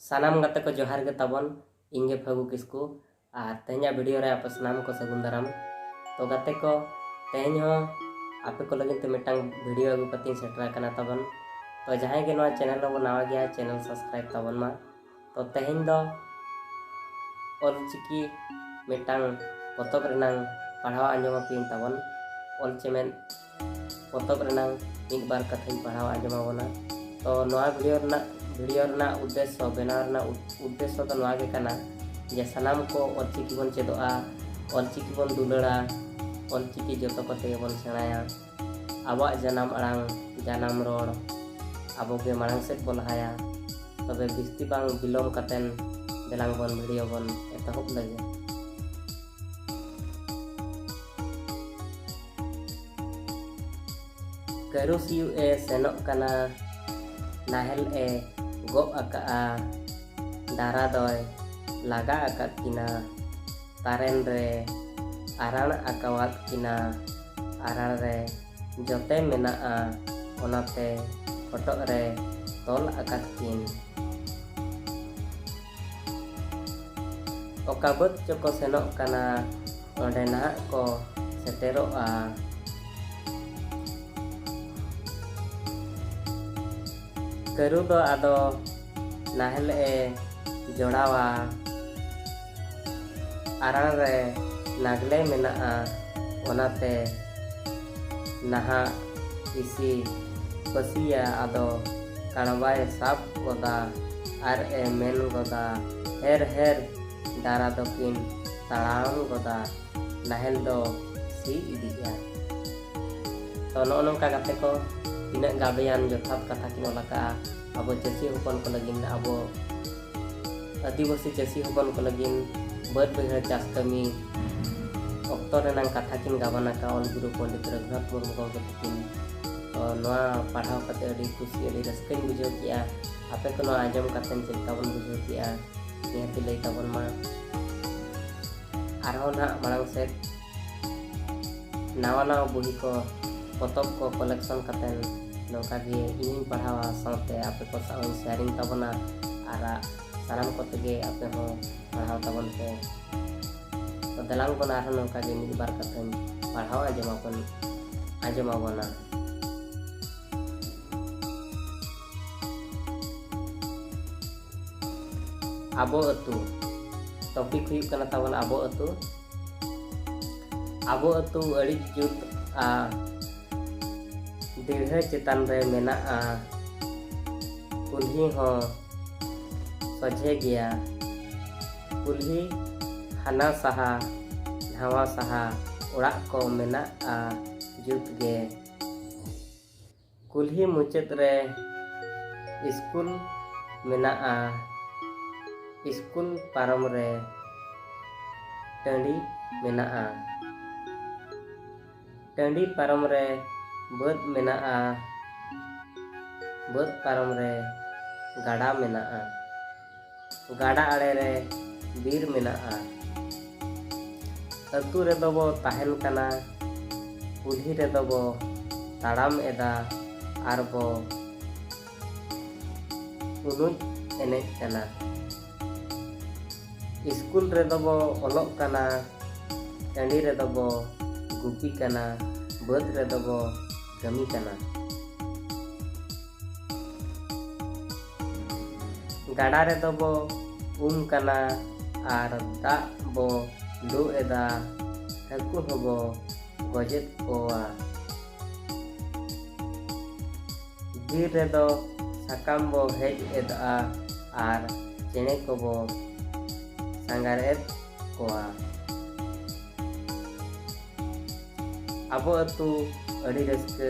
ᱥᱟᱱᱟᱢ ᱜᱟᱛᱮ ᱠᱚ ᱡᱚᱦᱟᱨ ᱜᱮ ᱛᱟᱵᱚᱱ ᱤᱧ ᱜᱮ ᱯᱷᱟᱹᱜᱩ ᱠᱤᱥᱠᱩ ᱟᱨ ᱛᱮᱦᱮᱧᱟᱜ ᱵᱷᱤᱰᱤᱭᱳ ᱨᱮ ᱟᱯᱮ ᱥᱟᱱᱟᱢ ᱠᱚ ᱥᱟᱹᱜᱩᱱ ᱫᱟᱨᱟᱢ ᱛᱚ ᱜᱟᱛᱮ ᱠᱚ ᱛᱮᱦᱮᱧ ᱦᱚᱸ ᱟᱯᱮ ᱠᱚ ᱞᱟᱹᱜᱤᱫ ᱛᱮ ᱢᱤᱫᱴᱟᱝ ᱵᱷᱤᱰᱤᱭᱳ ᱟᱹᱜᱩ ᱠᱟᱛᱮᱧ ᱥᱮᱴᱮᱨ ᱟᱠᱟᱱᱟ ᱛᱟᱵᱚᱱ ᱛᱚ ᱡᱟᱦᱟᱸᱭ ᱜᱮ ᱱᱚᱣᱟ ᱪᱮᱱᱮᱞ ᱨᱮᱵᱚᱱ ᱱᱟᱣᱟ ᱜᱮᱭᱟ ᱪᱮᱱᱮᱞ ᱥᱟᱵᱥᱠᱨᱟᱭᱤᱵ ᱛᱟᱵᱚᱱ ᱢᱟ ᱛᱚ ᱛᱮᱦᱮᱧ ᱫᱚ ᱚᱞᱪᱤᱠᱤ ᱢᱤᱫᱴᱟᱝ ᱯᱚᱛᱚᱵ ᱨᱮᱱᱟᱝ ᱯᱟᱲᱦᱟᱣ ᱟᱸᱡᱚᱢ ᱟᱯᱮᱭᱟᱹᱧ ᱛᱟᱵᱚᱱ ᱚᱞ ᱪᱮᱢᱮᱫ ᱯᱚᱛᱚᱵ ᱨᱮᱱᱟᱝ ᱢᱤᱫ ᱵᱟᱨ ᱠᱟᱛᱷᱟᱧ ᱯᱟᱲᱦᱟᱣ ᱟᱸᱡᱚᱢ ᱟᱵᱚᱱᱟ ᱛᱚ ᱱᱚᱣᱟ ᱵᱷᱤᱰᱤᱭᱳ ᱨᱮᱱᱟᱜ ᱵᱷᱤᱰᱤᱭᱳ ᱨᱮᱱᱟᱜ ᱩᱫᱽᱫᱮᱥᱥᱚ ᱵᱮᱱᱟᱣ ᱨᱮᱱᱟᱜ ᱩᱫᱽᱫᱮᱥᱥᱚ ᱫᱚ ᱱᱚᱣᱟ ᱜᱮ ᱠᱟᱱᱟ ᱡᱮ ᱥᱟᱱᱟᱢ ᱠᱚ ᱚᱞᱪᱤᱠᱤ ᱵᱚᱱ ᱪᱮᱫᱚᱜᱼᱟ ᱚᱞᱪᱤᱠᱤ ᱵᱚᱱ ᱫᱩᱞᱟᱹᱲᱟ ᱚᱞᱪᱤᱠᱤ ᱡᱚᱛᱚ ᱠᱚᱛᱮ ᱜᱮᱵᱚᱱ ᱥᱮᱬᱟᱭᱟ ᱟᱵᱚᱣᱟᱜ ᱡᱟᱱᱟᱢ ᱟᱲᱟᱝ ᱡᱟᱱᱟᱢ ᱨᱚᱲ ᱟᱵᱚ ᱜᱮ ᱢᱟᱲᱟᱝ ᱥᱮᱫ ᱵᱚ ᱞᱟᱦᱟᱭᱟ ᱛᱚᱵᱮ ᱵᱤᱥᱛᱤ ᱵᱟᱝ ᱵᱤᱞᱚᱢ ᱠᱟᱛᱮᱱ ᱫᱮᱞᱟᱝ ᱵᱚᱱ ᱵᱷᱤᱰᱤᱭᱳ ᱵᱚᱱ ᱮᱛᱚᱦᱚᱵ ᱞᱟᱹᱜᱤᱫ ᱠᱟᱹᱨᱩ ᱥᱤᱭᱩᱜ ᱮ ᱥᱮᱱᱚᱜ ᱠᱟᱱᱟ ᱱᱟᱦᱮᱞ ᱮ ᱜᱚᱜ ᱟᱠᱟᱫᱼᱟ ᱰᱟᱨᱟ ᱫᱚᱭ ᱞᱟᱜᱟ ᱟᱠᱟᱫ ᱠᱤᱱᱟ ᱛᱟᱨᱮᱱ ᱨᱮ ᱟᱨᱟᱬ ᱟᱠᱟᱣᱟᱫ ᱠᱤᱱᱟ ᱟᱨᱟᱬ ᱨᱮ ᱡᱚᱛᱮ ᱢᱮᱱᱟᱜᱼᱟ ᱚᱱᱟᱛᱮ ᱦᱚᱴᱚᱜ ᱨᱮ ᱛᱚᱞ ᱟᱠᱟᱫ ᱠᱤᱱ ᱚᱠᱟ ᱵᱟᱹᱫᱽ ᱪᱚᱠᱚ ᱥᱮᱱᱚᱜ ᱠᱟᱱᱟ ᱱᱚᱰᱮ ᱱᱟᱦᱟᱜ ᱠᱚ ᱥᱮᱴᱮᱨᱚᱜᱼᱟ ᱠᱟᱹᱨᱩ ᱫᱚ ᱟᱫᱚ ᱱᱟᱦᱮᱞ ᱮ ᱡᱚᱲᱟᱣᱟ ᱟᱨᱟᱬ ᱨᱮ ᱱᱟᱜᱽᱞᱮ ᱢᱮᱱᱟᱜᱼᱟ ᱚᱱᱟᱛᱮ ᱱᱟᱦᱟᱜ ᱤᱥᱤ ᱯᱟᱹᱥᱤᱭᱟ ᱟᱫᱚ ᱠᱟᱬᱵᱟᱭ ᱥᱟᱵ ᱜᱚᱫᱟ ᱟᱨ ᱮ ᱢᱮᱱ ᱜᱚᱫᱟ ᱦᱮᱨ ᱦᱮᱨ ᱰᱟᱨᱟ ᱫᱚᱠᱤᱱ ᱛᱟᱲᱟᱢ ᱜᱚᱫᱟ ᱱᱟᱦᱮᱞ ᱫᱚ ᱥᱤ ᱤᱫᱤᱜᱼᱟ ᱛᱚ ᱱᱚᱜᱼᱚ ᱱᱚᱝᱠᱟ ᱠᱟᱛᱮ ᱠᱚ ᱛᱤᱱᱟᱹᱜ ᱜᱟᱵᱮᱭᱟᱱ ᱡᱚᱛᱷᱟᱛ ᱠᱟᱛᱷᱟ ᱠᱤᱱ ᱚᱞ ᱟᱠᱟᱜᱼᱟ ᱟᱵᱚ ᱪᱟᱹᱥᱤ ᱦᱚᱯᱚᱱ ᱠᱚ ᱞᱟᱹᱜᱤᱫ ᱟᱵᱚ ᱟᱹᱫᱤᱵᱟᱹᱥᱤ ᱪᱟᱹᱥᱤ ᱦᱚᱯᱚᱱ ᱠᱚ ᱞᱟᱹᱜᱤᱫ ᱵᱟᱹᱫᱽ ᱵᱟᱹᱭᱦᱟᱹᱲ ᱪᱟᱥ ᱠᱟᱹᱢᱤ ᱚᱠᱛᱚ ᱨᱮᱱᱟᱝ ᱠᱟᱛᱷᱟ ᱠᱤᱱ ᱜᱟᱵᱟᱱ ᱟᱠᱟᱫ ᱚᱞ ᱜᱩᱨᱩ ᱯᱚᱱᱰᱤᱛ ᱨᱚᱜᱷᱩᱱᱟᱛᱷ ᱢᱩᱨᱢᱩ ᱜᱚᱢᱠᱮ ᱛᱟᱹᱠᱤᱱ ᱛᱚ ᱱᱚᱣᱟ ᱯᱟᱲᱦᱟᱣ ᱠᱟᱛᱮ ᱟᱹᱰᱤ ᱠᱩᱥᱤ ᱟᱹᱰᱤ ᱨᱟᱹᱥᱠᱟᱹᱧ ᱵᱩᱡᱷᱟᱹᱣ ᱠᱮᱜᱼᱟ ᱟᱯᱮ ᱠᱚ ᱱᱚᱣᱟ ᱟᱸᱡᱚᱢ ᱠᱟᱛᱮ ᱪᱮᱫ ᱞᱮᱠᱟ ᱵᱚᱱ ᱵᱩᱡᱷᱟᱹᱣ ᱠᱮᱜᱼᱟ ᱱᱤᱦᱟᱹᱛ ᱞᱟᱹᱭ ᱛᱟᱵᱚᱱ ᱢᱟ ᱟᱨᱦᱚᱸ ᱱᱟᱦᱟᱜ ᱢᱟᱲᱟᱝ ᱥᱮᱫ ᱱᱟᱣᱟ ᱱᱟᱣᱟ ᱵᱩᱦᱤ ᱠᱚ ᱯᱚᱛᱚᱵ ᱠᱚ ᱠᱚᱞᱮᱠᱥᱚᱱ ᱠᱟᱛᱮ ᱱᱚᱝᱠᱟ ᱜᱮ ᱤᱧᱤᱧ ᱯᱟᱲᱦᱟᱣᱟ ᱥᱟᱶᱛᱮ ᱟᱯᱮ ᱠᱚ ᱥᱟᱶ ᱤᱧ ᱥᱮᱭᱟᱨᱤᱝ ᱛᱟᱵᱚᱱᱟ ᱟᱨ ᱥᱟᱱᱟᱢ ᱠᱚ ᱛᱮᱜᱮ ᱟᱯᱮ ᱦᱚᱸ ᱯᱟᱲᱦᱟᱣ ᱛᱟᱵᱚᱱ ᱯᱮ ᱛᱚ ᱫᱮᱞᱟᱝ ᱵᱚᱱ ᱟᱨᱦᱚᱸ ᱱᱚᱝᱠᱟ ᱜᱮ ᱢᱤᱫ ᱵᱟᱨ ᱠᱟᱛᱷᱟᱧ ᱯᱟᱲᱦᱟᱣ ᱟᱸᱡᱚᱢ ᱟᱵᱚᱱ ᱟᱸᱡᱚᱢ ᱟᱵᱚᱱᱟ ᱟᱵᱚ ᱟᱹᱛᱩ ᱴᱚᱯᱤᱠ ᱦᱩᱭᱩᱜ ᱠᱟᱱᱟ ᱛᱟᱵᱚᱱ ᱟᱵᱚ ᱟᱹᱛᱩ ᱟᱵᱚ ᱟᱹᱛᱩ ᱟᱹᱰᱤ ᱡᱩᱛ ᱟ ᱫᱤᱲᱦᱟᱹ ᱪᱮᱛᱟᱱ ᱨᱮ ᱢᱮᱱᱟᱜᱼᱟ ᱠᱩᱞᱦᱤ ᱦᱚᱸ ᱥᱚᱡᱷᱮ ᱜᱮᱭᱟ ᱠᱩᱞᱦᱤ ᱦᱟᱱᱟ ᱥᱟᱦᱟ ᱱᱟᱣᱟ ᱥᱟᱦᱟ ᱚᱲᱟᱜ ᱠᱚ ᱢᱮᱱᱟᱜᱼᱟ ᱡᱩᱛ ᱜᱮ ᱠᱩᱞᱦᱤ ᱢᱩᱪᱟᱹᱫ ᱨᱮ ᱥᱠᱩᱞ ᱢᱮᱱᱟᱜᱼᱟ ᱥᱠᱩᱞ ᱯᱟᱨᱚᱢ ᱨᱮ ᱴᱟᱺᱰᱤ ᱢᱮᱱᱟᱜᱼᱟ ᱴᱟᱺᱰᱤ ᱯᱟᱨᱚᱢ ᱨᱮ ᱵᱟᱹᱫᱽ ᱢᱮᱱᱟᱜᱼᱟ ᱵᱟᱹᱫᱽ ᱯᱟᱨᱚᱢ ᱨᱮ ᱜᱟᱰᱟ ᱢᱮᱱᱟᱜᱼᱟ ᱜᱟᱰᱟ ᱟᱲᱮ ᱨᱮ ᱵᱤᱨ ᱢᱮᱱᱟᱜᱼᱟ ᱟᱹᱛᱩ ᱨᱮᱫᱚ ᱵᱚ ᱛᱟᱦᱮᱱ ᱠᱟᱱᱟ ᱠᱩᱞᱦᱤ ᱨᱮᱫᱚ ᱵᱚ ᱛᱟᱲᱟᱢ ᱮᱫᱟ ᱟᱨ ᱵᱚ ᱩᱱᱩᱡ ᱮᱱᱮᱡ ᱠᱟᱱᱟ ᱤᱥᱠᱩᱞ ᱨᱮᱫᱚ ᱵᱚ ᱚᱞᱚᱜ ᱠᱟᱱᱟ ᱴᱟᱺᱰᱤ ᱨᱮᱫᱚ ᱵᱚ ᱜᱩᱯᱤ ᱠᱟᱱᱟ ᱵᱟᱹᱫᱽ ᱨᱮᱫᱚ ᱵᱚ ᱠᱟᱹᱢᱤ ᱠᱟᱱᱟ ᱜᱟᱰᱟ ᱨᱮᱫᱚ ᱵᱚ ᱩᱢ ᱠᱟᱱᱟ ᱟᱨ ᱫᱟᱜ ᱵᱚ ᱞᱩ ᱮᱫᱟ ᱦᱟᱹᱠᱩ ᱦᱚᱸᱵᱚ ᱜᱚᱡᱮᱫ ᱠᱚᱣᱟ ᱵᱤᱨ ᱨᱮᱫᱚ ᱥᱟᱠᱟᱢ ᱵᱚ ᱦᱮᱡ ᱮᱫᱟ ᱟᱨ ᱪᱮᱬᱮ ᱠᱚᱵᱚ ᱥᱟᱸᱜᱷᱟᱨ ᱮᱫ ᱠᱚᱣᱟ ᱟᱵᱚ ᱟᱹᱛᱩ ᱟᱹᱰᱤ ᱨᱟᱹᱥᱠᱟᱹ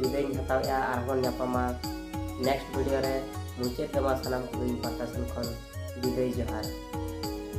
ᱵᱤᱫᱟᱹᱭᱤᱧ ᱦᱟᱛᱟᱣᱮᱫᱼᱟ ᱟᱨᱦᱚᱸ ᱧᱟᱯᱟᱢᱟ ᱱᱮᱠᱥᱴ ᱵᱷᱤᱰᱤᱭᱳ ᱨᱮ ᱢᱩᱪᱟᱹᱫ ᱨᱮᱢᱟ ᱥᱟᱱᱟᱢ ᱠᱚᱜᱮ ᱤᱧ ᱯᱟᱦᱴᱟ ᱥᱮᱱ ᱠᱷᱚᱱ ᱵᱤᱫᱟᱹᱭ ᱡᱚᱦᱟᱨ